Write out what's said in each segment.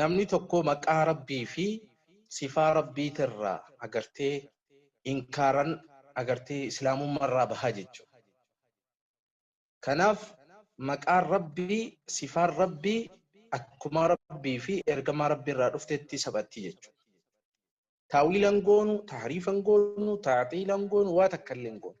namni tokkoo maqaa rabbii fi sifaa rabbii tirraa agartee inkaaran agartee islaamumma irraa bahaa jechuu kanaaf maqaan rabbii sifaan rabbii akkumaa rabbii fi ergamaa rabbii irraa dhuftetti saphattii jechuu taawiilan goonu taariifan goonu taaxiilan goonu waa takka illeen goonu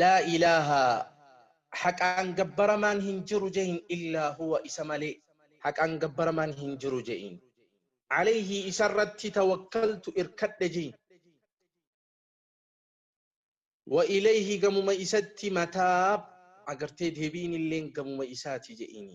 Laa ilaaha, haqaan gabbaramaan hin jiru je'iin, illaa huwa, isa malee, haqaan gabbaramaan hin jiru je'iin. Alayhi, isa irratti, tawakkaltu, irkadhe je'iin. Wa ilayhi, gamuma isatti, mataab, agartee deebi'iin illeen gamuma isaati je'iini.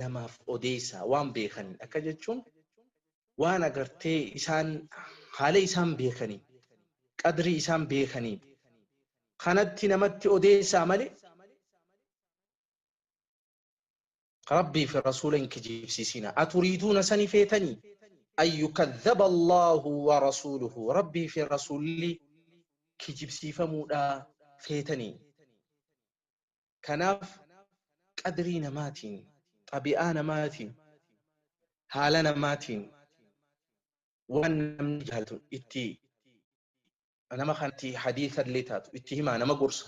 namaaf odeessaa waan beekaniin akka jechuun waan agartee isaan haala isaan beekanii qadrii isaan beekanii kanatti namatti odeessaa malee rabbii fi rasuula hin kijibsiisina aturiiduuna sani feetanii an yukadhaba allaahu wa rasuuluhu rabbii fi rasuulli kijibsiifamuudha feetanii Kanaaf qadrii namaatiin, xabi'aa namaatiin, haala namaatiin waan namni jaalatu itti nama kanatti hadiisa illee taatu itti himaa nama gorsa.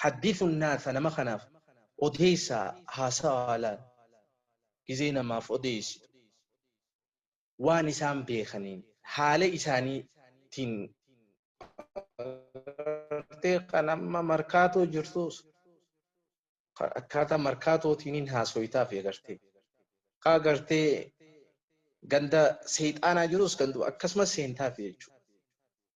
Haddisu naasa nama kanaaf odeessaa haasawaa laal gizee namaaf odeessitu. waan isaan beekaniin haala isaaniitiin bartee kan amma markaatoo jirtuus akkaataa markaatootiin hin haasoytaaf agartee kaa agartee ganda seexaanaa jirus ganduma akkasumas seentaaf jechuudha.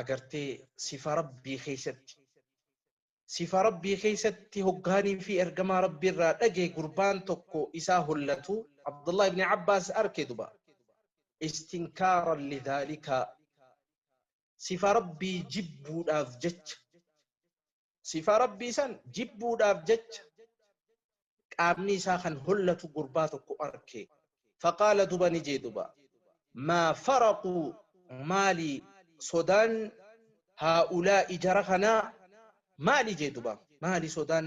agartee sifa rabbii keessatti sifa rabbii keessatti hoggaanii fi ergamaa rabbii irraa dhagee gurbaan tokko isaa hollatu abdullah ibni abbaas arke duba istinkaaran lidhaalikaa sifa rabbii jibbuudhaaf jecha Sifaa Rabbii san jibbuudhaaf jecha qaamni isaa kan hollatu gurbaa tokko arke. Faqaala duba ni jee duba. Maa faraqu maali sodaan haa'ulaa'i jara kanaa maali jee duba. Maali sodaan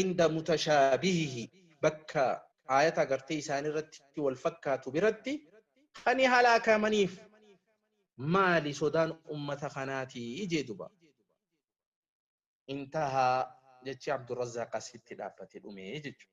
inda mutashaabihihi bakka aayata agartee isaanii irratti wal fakkaatu biratti kan halaakamaniif maali sodaan ummata kanaati ijee duba intahaa jechii abdurrazzaaq asitti dhaabbate dhumee jechuudha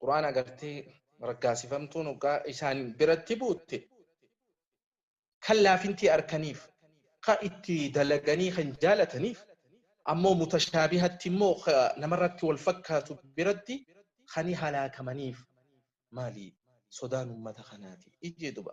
qur'aana agartee raggaasifamtuun hoggaa isaan biratti buutte kan laafintii arkaniif ka itti dalaganii kan jaalataniif ammoo mutashaabihatti immoo ka namarratti wal fakkaatu biratti kani halaakamaniif maali sodaan ummata kanaati ijee duba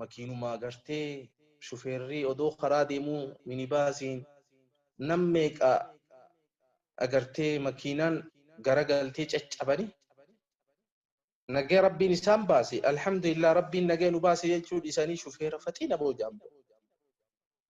makiinuma agartee shufeerrii odoo karaa deemuu minibaasiin nam meeqa agartee makiinaan garagaltee caccabani nagaya rabbiin isaan baase alhamdulillah rabbiin nagaya nu baase jechuu dhisanii shufeera faxiina boojaambo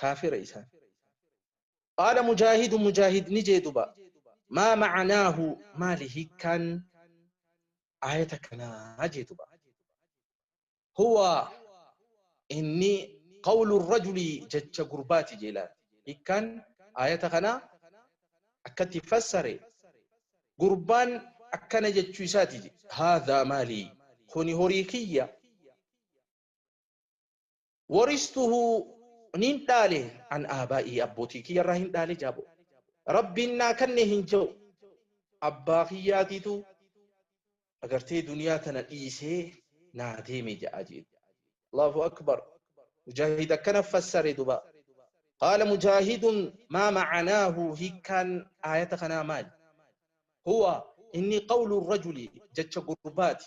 kaafira isaan qaala mujaahidu mujaahid ni jee duba maa macanaahu maali hiikkaan aayata kanaa jee duba huwa inni qawlu rajulii jecha gurbaati jee laal hiikkaan aayata kanaa akkatti fassare gurbaan akkana jechuu isaati haadhaa maalii kuni horii kiyya waristuhu nin dhaale an aabaa'ii abbootii kiyya irraa hin dhaale jaabo rabbiin naa kanne hin ja'u abbaa kiyyaatiitu agartee duniyaa tana dhiisee naa deeme ja'a jeetu allahu akbar mujaahid akkana fassare duba qaala mujaahidun maa macanaahu hiikkaan aayata kanaa maali huwa inni qawlu rajuli jecha gurbaati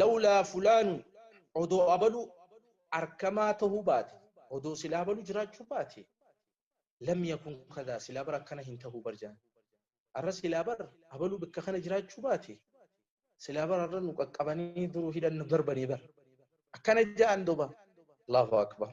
lawlaa fulaanu odoo abalu arkamaa tahuu baate odoo silaa abalu jiraachuu baate lam yakun kadaa silaa bar akkana hin tahuu bar jaan arra silaa bar abaluu bakka kana jiraachuu baate silaa bar arra nu qaqqabanii duruu hidhan nu darbanii bar akkana jaan duba allahu akbar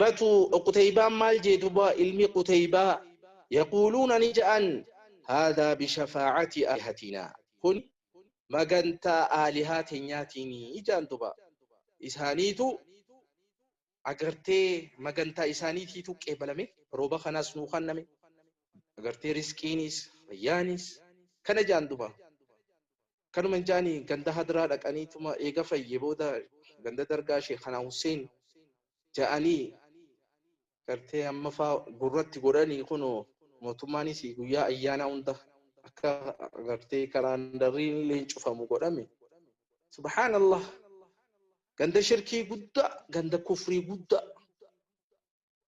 batu qutaybaan maal jee duba ilmi qutaybaa yaquuluuna ni ja'an haadaa bishafaacati aalihatinaa kun magantaa aalihaa tenyaatiin ijaan duba isaaniitu agartee magantaa isaaniitiitu qeebalame rooba kanaas nuu kanname agartee risqiinis fayyaanis kana jaan duba Kanuma hin jaani ganda hadraa dhaqanii tuma eega fayye booda ganda dargaa sheekanaa husseen ja'anii gartee amma faa gurratti godhanii kuno mootummaanis guyyaa ayyaanaa hunda akka gartee kalaandarriin illee hin cufamu godhame subhaanallah ganda shirkii guddaa ganda kufrii guddaa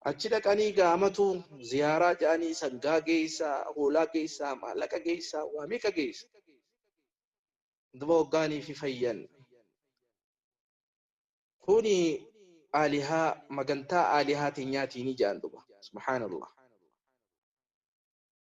Achi dhaqanii gaa amatu ziyaaraa jedhanii sangaa geessaa, hoolaa geessaa, maallaqa geessaa, waa meeqa geessa. Duba hoggaanii fi fayyan. Kuni aalihaa magantaa aalihaa teenyaatiin ijaan duba. Subhaanallah.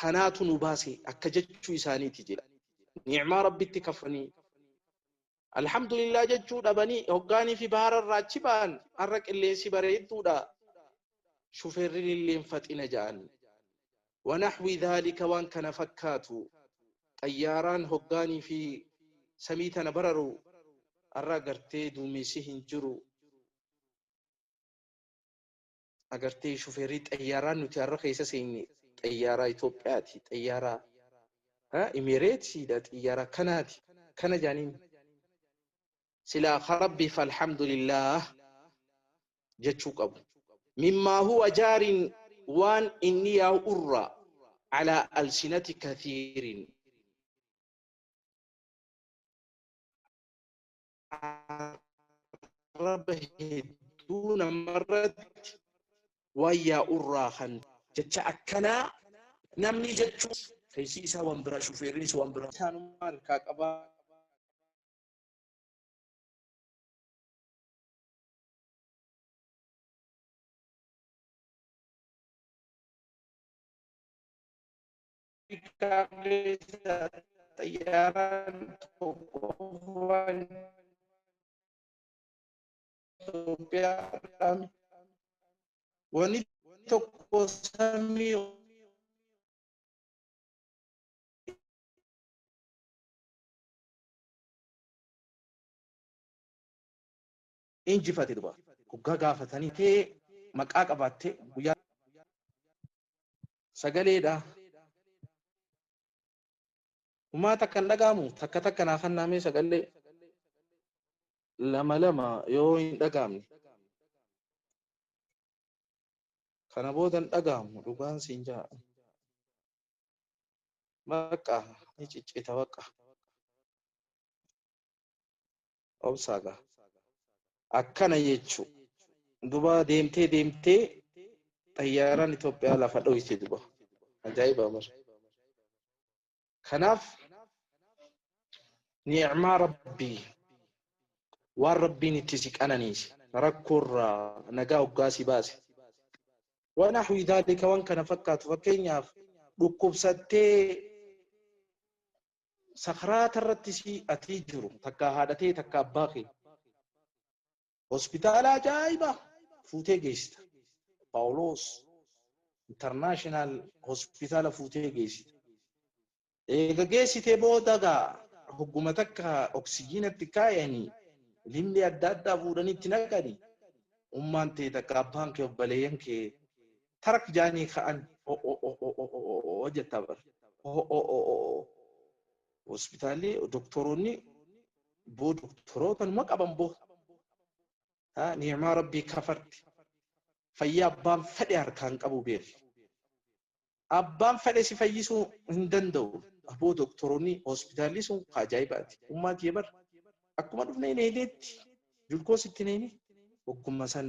kanaatu nu baase akka jechuu isaaniiti jedhe ni'maa rabbitti kafanii alhamdulillah jechuu dhabanii hoggaanii fi baara irraa achi ba'an har'a qilleensi bareedduudha shufeerrin illeen faxina ja'an wanaxwi dhaalika waan kana fakkaatu xayyaaraan hoggaanii fi samii tana bararu har'a gartee duumessi hin jiru agartee shufeerii xayyaaraa nuti har'a keessa seenye xayyaaraa Itoophiyaati xayyaaraa imereetiidha xayyaaraa kanaati kana jaaniin silaa ka rabbiif alhamdulillaah jechuu qabu mimmaa huwa jaariin waan inni yaa'u irra alaa alsinati kathiiriin arraba hedduu namarratti wayyaa urraa kan jecha akkanaa namni jechuu keessi isaa waan biraa shufeerrinis waan biraa isaanummaa harkaa qabaa kaleessa xayyaaraan tokko qofaan Itoophiyaadhaan wani tokko samii injifate duba. Hoggaa gaafatanii tee maqaa qabaattee guyyaa. Sagalee dha. Humaa takka hin dhaga'amu takka takka naa kannaa mee sagallee lama lama yoo hin dhaga'amne. Kana booda hin dhaga'amu dhugaan siin jaa. Bakka ni ciccita bakka. obsaa gaa akkana jechuu duba deemtee deemtee xayyaaraan Itoophiyaa lafa dhoyte duba ajaa'iba bar kanaaf ni'maa rabbii waan rabbiin itti si qananiise rakkoorraa nagaa hoggaa si baase waan ahwii daalika waan kana fakkaatu fakkeenyaaf dhukkubsattee sakaraata irratti si atii jiru takkaa haadha ta'e takka abbaa kee hospitaala ajaa'iba fuutee geessita. Paawuloos intarnaashinaal hospitaala fuutee geessita. Eega geessitee booda gaa hogguma takka oksijiinatti kaayanii limmii adda addaa fuudhanii itti naqanii ummaan ta'e takka abbaan kee obboleeyyan kee tarak jaanii ka'an o'o'o'o'o'o'o'o jettaa bar o'o'o'o'o'o hospitaalli doktoroonni boo doktoroota numa qaban boo haa ni'imaa rabbii kafarti fayyaa abbaan fedhe harkaan qabu beeki abbaan fedhe si fayyisuu hin danda'u aboo doktoroonni hospitaalli sun ka ajaa'ibaati ummaa kiyya bar akkuma dhufne hin eedeetti julkoos itti neeni ogguma san